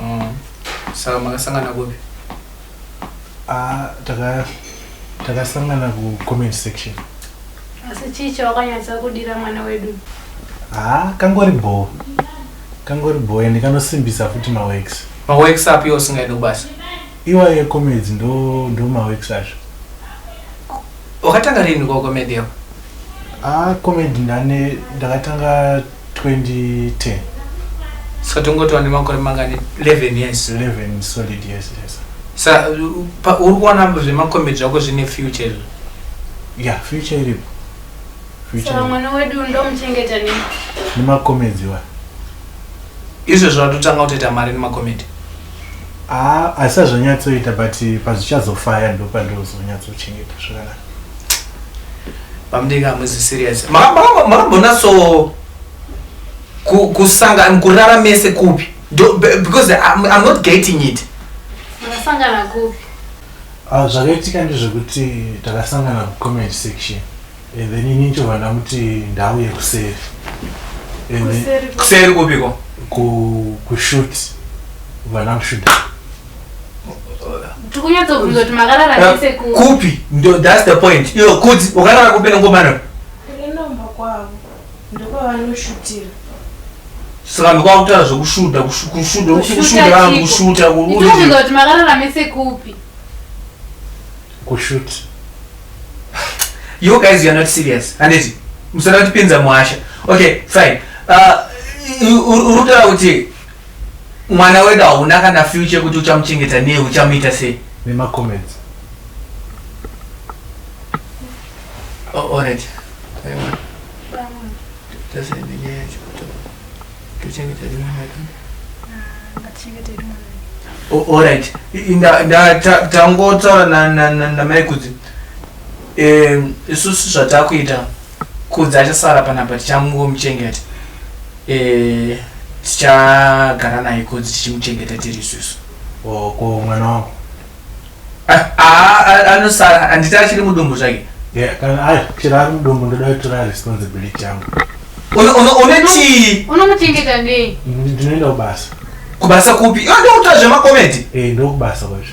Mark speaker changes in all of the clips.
Speaker 1: Oh. Saka makasangana kupi? Ah, taka
Speaker 2: takasangana ku comment section. Asi
Speaker 3: chii chawakanyatsa kudira mwana wedu? Ah,
Speaker 2: kangori bho. Kangori bho and kanosimbisa futi ma works. Ma works up iwo
Speaker 1: singaidi kubasa. Iwa ye
Speaker 2: comedy ndo ndo ma works acho. Wakatanga
Speaker 1: rini kwa comedy yako? Ah,
Speaker 2: comedy ndane ndakatanga
Speaker 1: 2010 so tingotova nemakore mangani 11 years 11 solid years
Speaker 2: yes sa
Speaker 1: uri kuona zvemakomedi zvako zvine future izvo ya
Speaker 2: future iripo mwana
Speaker 3: wedu ndomuchengeta ne nemakomedi
Speaker 2: wa
Speaker 1: izvo zvatotanga kutoita mari nemakomedi asi
Speaker 2: azvanyatsoita but pazvichazofaya ndopandozonyatsochengeta zvakanaka Bamdinga
Speaker 1: hamuzi serious. Makambona so kusangana kurara mese kupi? Because I'm, I'm not getting it. Makasangana
Speaker 3: kupi? Ah, zvakaitika
Speaker 2: ndezvekuti takasangana kucomment section and then ini nchovha ndamuti ndauye kuseri
Speaker 1: kuseri kupiko kushut
Speaker 2: vana kushuta
Speaker 3: tikunyatsobvunza kuti makarara eh, nese kupi ndo
Speaker 1: thats the point iyo kuti ukarara kupi nengomana inomba
Speaker 4: kwavo ndopavanoshutira
Speaker 1: saka ndokwakutaa zvekushuta kushuta vanhu kushuta kuuza kuti makarara
Speaker 3: mese kupi kushut
Speaker 2: you
Speaker 1: guys you're not serious handiti musana kutipinza muhasha okay fine uh, uri kutaura kuti Mwana wedu hauna kana future yekuti uchamuchengeta nei uchamuita sei? Nema comments. Oh, all right. Ayiwa. Tose ndiye chikuto. Tuchengeta mwana wedu. Ngachengeta mwana wedu. Oh, all right. Nda nda tangotaura na na na mai kudzi. Eh, isusu zvatakuita. Kudzi achasara panapa tichangomuchengeta eh, tichagara naye kudzi tichimuchengeta tiri isusu ko mwana
Speaker 2: wangu ah, ah, ah,
Speaker 1: anosara anditi achiri mudumbu zvake chero
Speaker 2: ari mudumbu ndoda kutora responsibility yangu unotii unomuchengeta
Speaker 3: ndei ndinoenda kubasa
Speaker 2: kubasa kupi
Speaker 1: ndouta zvemakomedi eh, ndokubasa kwacho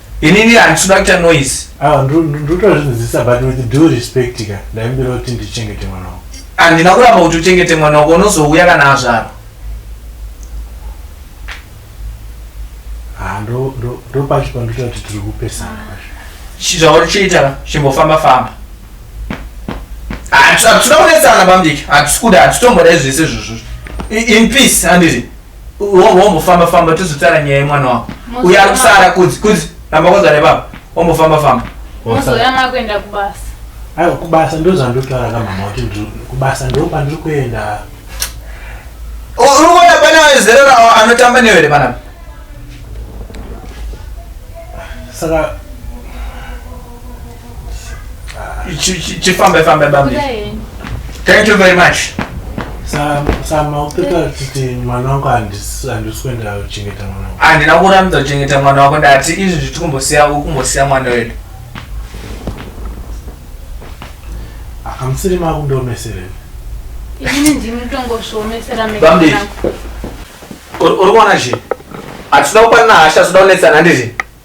Speaker 1: inini handisi kuda kuita noise ah, ndotozvinzisa
Speaker 2: but with due respect ka ndaimbira kuti ndichengete mwana wako handina kuramba kuti
Speaker 1: uchengete mwana wako unozouya kana azvarwa
Speaker 2: ah, ndopacho pandoita kuti tiri kupesana zvauri chiita
Speaker 1: chimbofamba famba hatisi kuda kunetsana pamudiki hatisi kuda hatitombodai zvese zvozvozvo in peace handiti Wombo wombo famba famba tizotara nyaya yemwana wako. Uya ari kusara kudzi kudzi ramba kwanza nebaba. Wombo famba famba. Mozoya
Speaker 3: makuenda kubasa. Ayo kubasa ndozvandotara
Speaker 2: kamama kuti kubasa ndo pandiri kuenda.
Speaker 1: Uri kuona pane vezero rawo anotamba newe here panapa?
Speaker 2: Saka
Speaker 1: chifambe fambe bambi thank you very much
Speaker 2: sama upeta kuti mwana wangu handisi kuenda kuchengeta mwana wangu handina kuramidza kuchengeta
Speaker 1: mwana wako ndati izvi zviti kumbosiya ukumbosiya mwana wedu
Speaker 2: akamusiri makundiomesere ini ndimi
Speaker 3: tongozviomesera bambi
Speaker 1: uri kuona zve hatida kupanana hasha zvida kunetsana ndizvi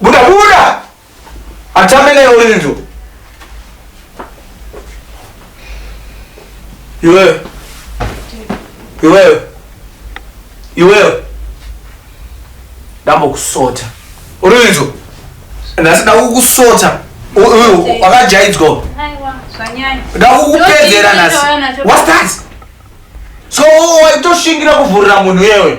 Speaker 1: Buda buda. Atambe naye Olindo. Iwewe. Iwewe. Iwewe. Dambo kusota. Olindo. Ndasi ndakukusota. Uyu wakajaidzwa. Aiwa, zvanyanya.
Speaker 3: Ndakukupedzera
Speaker 1: nhasi. What's that? So waitoshingira kuvhurira munhu yewe.